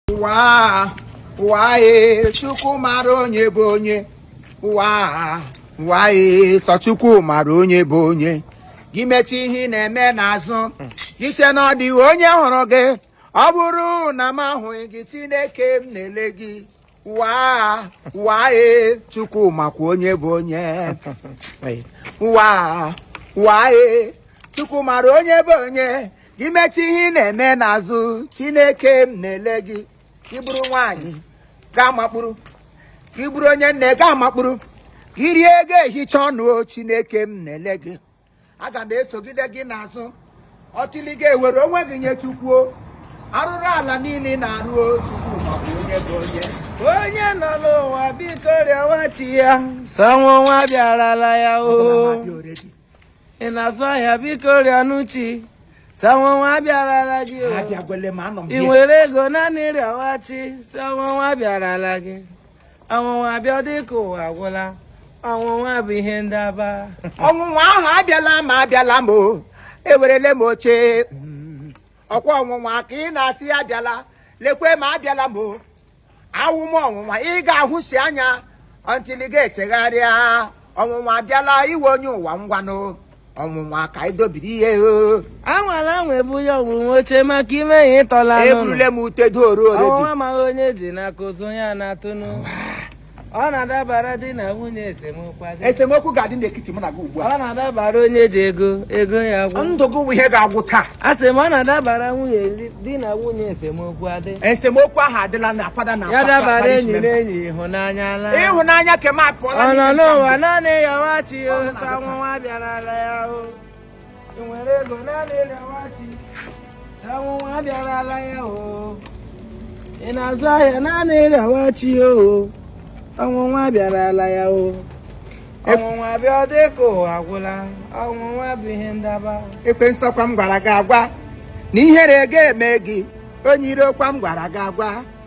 ụwa ụwa ee chukwu mara onye bụ onye ụwa ụwa ee sọ chukwu mara onye bụ onye gị mechi ihe ị na-eme n'azụ gị sị na ọ dịghị onye hụrụ gị ọ bụrụ na m ahụghị gị chineke m na-ele gị ụwa ụwa ee chukwu makwa onye bụ onye ụwa ụwa ee chukwu mara onye bụ onye gị mechi ihe ị na-eme n'azụ chineke m na-ele gị gị bụrụ nwaanyị gaa makpụrụ gị bụrụ onye nne gaa makpụrụ gị rie ego ehicha ọnụ o chineke m na-ele gị aga m esogide gị n'azụ until ị ga-ewere onwe gị nye chukwu o arụrụ ala niile ị na-arụ o chukwu makwa onye bụ onye onye nọ n'ụwa biko rịọwa chi ya sị ọnwụnwa abịarala ya o Ọbụla ma dị already. ị na-azụ ahịa biko rịọnụ chi sị ọnwụnwa abịarala gị o. abịagwele m anọ m ebe a ị nwere ego naanị rịọwa chi sị ọnwụnwa abịarala gị ọnwụnwa bịa dịka ụwa agwụla ọnwụnwa bụ ihe ndaba ọnwụnwa ahụ abịala m abịala m o ewerele m oche Mm. ọkwa ọnwụnwa ka ị na-asị abịala lekwe m abịala m o awụ m ọnwụnwa ị ga-ahụsi anya until ị ga-echegharịa ọnwụnwa abịala iwe onye ụwa ngwanụ ọnwụnwa ka ị dobiri ihe o anwala anwa ebunye ọnwụnwa oche maka ị mee ya ị tọla anụ eburule m ute dooro ọnwụnwa already amaghị onye ji n'aka ozu onye a na-atụnụ ọ na-adabara di na nwunye esemokwu esemokwu ga-adị n'etiti mụ na gị ugbu a ọ na-adabara onye ji ego ego ya gwụ ndụ gị wụ ihe ga-agwụ taa a sị m ọ na-adabara nwunye di na nwunye esemokwu adị esemokwu ahụ adịla na fada ọ na-adabara enyi na enyi ịhụnanya ala ịhụnanya ke m apụọla ọ nọ n'ụwa naanị rịọwa chi ya o sị ọnwụnwa abịarala ya o nwere ego naanị rịọwa chi ọnwụnwa abịarala ya o ị na-azụ ahịa naanị rịọwa chi o ọnwụnwa abịarala ya o ọnwụnwa abịa ọ dị ka ụwa agwụla ọnwụnwa bụ ihe ndaba ekwensu ọkwa m gwara gị agwa na ihere ga-eme gị onye iro ọkwa m gwara gị agwa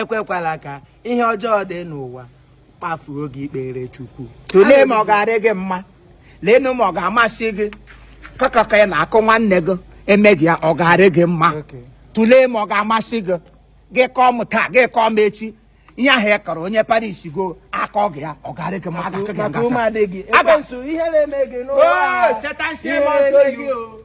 ekwekwala ka ihe ọjọọ dị n'ụwa kpafuo gị ikpere chukwu tụlee ma ọ ga-adị gị mma leenụ ma ọ ga-amasị gị kakaka ị na-akọ nwanne gị e mee gị ya ọ ga-adị gị mma tụlee ma ọ ga-amasị gị gị kọọ m taa gị kọọ m echi ihe ahụ ị kọrọ onye paris go a kọọ gị ya ọ ga-adị gị mma aga gị ngata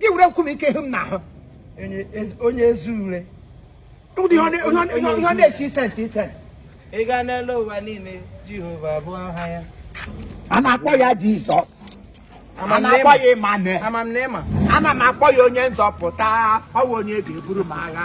gị were nkume ike hụ m n'ahụ onye ezi ure ihe ọ na-esi isi isi ị gaa n'elu ụwa niile jehova bụ aha ya a na-akpọ ya jizọs a na-akpọ ya ịmanuel ana m akpọ ya onye nzọpụta ọ bụ onye ga-eburu m agha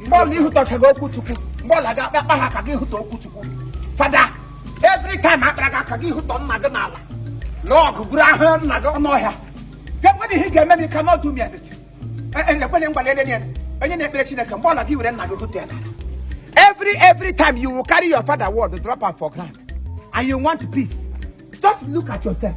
mgbe ọla ihụtachaghị okwu chukwu mgbe ọla gị akpa ha ka gị hụta okwu chukwu father every time akpara gị aka gị hụta nna gị n'ala lụọ ọgụ buru ahụ nna gị ọnụ ọhịa ga-enwere ihe ị ga-eme m you cannot do me anything ekwele ngwa na enye onye na-ekpere chineke mgbe ọla gị were nna gị hụta ya n'ala every every time you will carry your father word drop am for ground and you want peace just look at yourself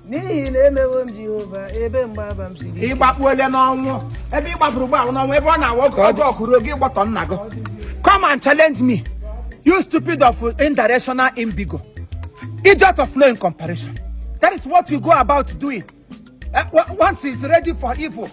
n'ihi na emewo m jehova ebe mgbaba m siri ị gbakpuole n'ọnwụ ebe ị gbakpuru ugbu a wụ n'ọnwụ ebe ọ na-awụ oge ọjọọ kụrụ oge ị gbọtọ nna gị come and challenge me you stupid of indirectional imbigo idiot of no in comparison that is what you go about doing Eh, once is ready for evil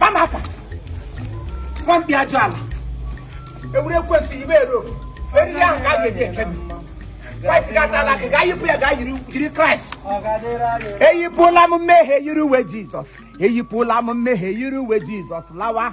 bamaka nwampi ajụ ala egwuregwu esighị ibe ero eriri ahụ ka a ga-eji ekebe white gata ala ka gaa yipụ ya gaa yiri kraịst eyipụla m mmehie yiri uwe jizọs eyipụla m mmehie yiri uwe jizọs lawa